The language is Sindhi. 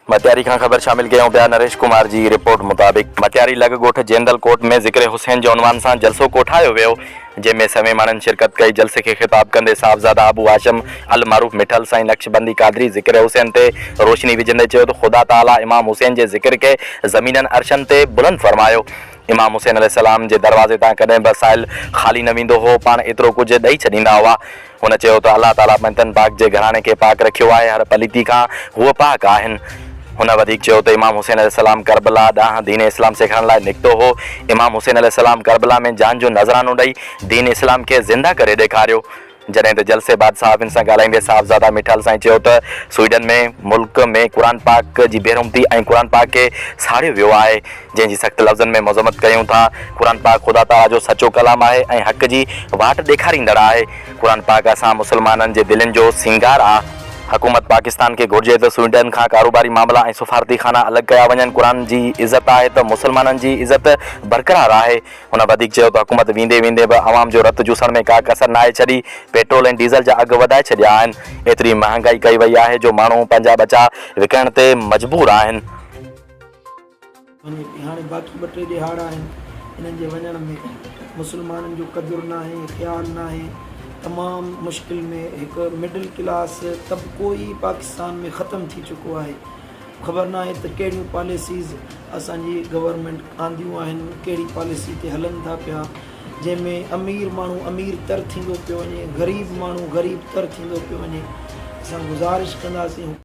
مٽياري کان خبر شامل ڪيون پيا نريش ڪمار جي رپورٽ مطابق مٽياري لڳ ڳوٺ جيندل ڪوٽ ۾ ذڪر حسين جي عنوان سان جلسو ڪوٺايو ويو جنهن ۾ سوين ماڻهن شرڪت ڪئي جلسي کي خطاب ڪندي صاحبزاده ابو هاشم المعروف مٺل سائين نقشبندي قادري ذڪر حسين تي روشني وجهندي چيو ته خدا تعالي امام حسين جي ذڪر کي زمينن عرشن تي بلند فرمايو امام حسين عليه السلام جي دروازي تان ڪڏهن به سائل خالي نه ويندو هو پاڻ ايترو ڪجهه ڏئي ڇڏيندا هئا هن چيو ته الله تعاليٰ بنتن پاڪ جي گهراڻي کي پاڪ رکيو آهي، هر پليتي کان هو پاڪ آهن. هن وڌيڪ چيو ته امام حسين عليه السلام ڪربلا ڏانهن دين اسلام سيکارڻ لاء نڪتو هو، امام حسين عليه السلام ڪربلا ۾ جان جو نذرانو ڏئي دين اسلام کي زنده ڪري ڏيکاريو. جڏهن ته جلسي بعد صحافين سان ڳالهائيندي صاحبزاده ميٺال سائين چيو ته سوئيڊن ۾ ملڪ ۾ قرآن پاڪ جي بيرحمتي ۽ قرآن پاڪ کي ساڙيو ويو آهي، جنهن جي سخت لفظن ۾ مذمت ڪريون ٿا. قرآن پاڪ خدا تعاليٰ جو سچو ڪلام آهي ۽ حق جي واٽ ڏيکاريندڙ آهي. قرآن پاڪ اسان مسلمانن جي دلين جو سينگار آ. حڪومت پاڪستان کي گهرجي ته سوئيڊن کان ڪاروباري معاملا ۽ سفارتي خانا الڳ ڪيا وڃن. قرآن جي عزت آهي ته مسلمانن جي عزت برقرار آهي. هن وڌيڪ چيو ته حڪومت ويندي ويندي به عوام جو رت جوسڻ ۾ ڪا ڪسر ناهي ڇڏي. پيٽرول ۽ ڊيزل جا اگهه وڌائي ڇڏيا آهن. ايتري مهانگائي ڪئي وئي آهي جو ماڻهو پنهنجا ٻچا وڪڻڻ تي مجبور آهن. هاڻي باقي ٻه ٽي ڏهاڙا آهن، انهن جي وڃڻ ۾ مسلمانن جو قدر ناهي، خيال ناهي، تمام مشڪل ۾ هڪ مڊل ڪلاس طبقو ئي پاڪستان ۾ ختم ٿي چڪو آهي، خبر ناهي ته ڪهڙيون پاليسيز اسان جي گورنمينٽ آنديون آهن، ڪهڙي پاليسي تي هلن ٿا پيا، جنهن ۾ امير ماڻهو امير تر ٿيندو پيو وڃي، غريب ماڻهو غريب تر ٿيندو پيو وڃي، اسان گذارش ڪنداسين.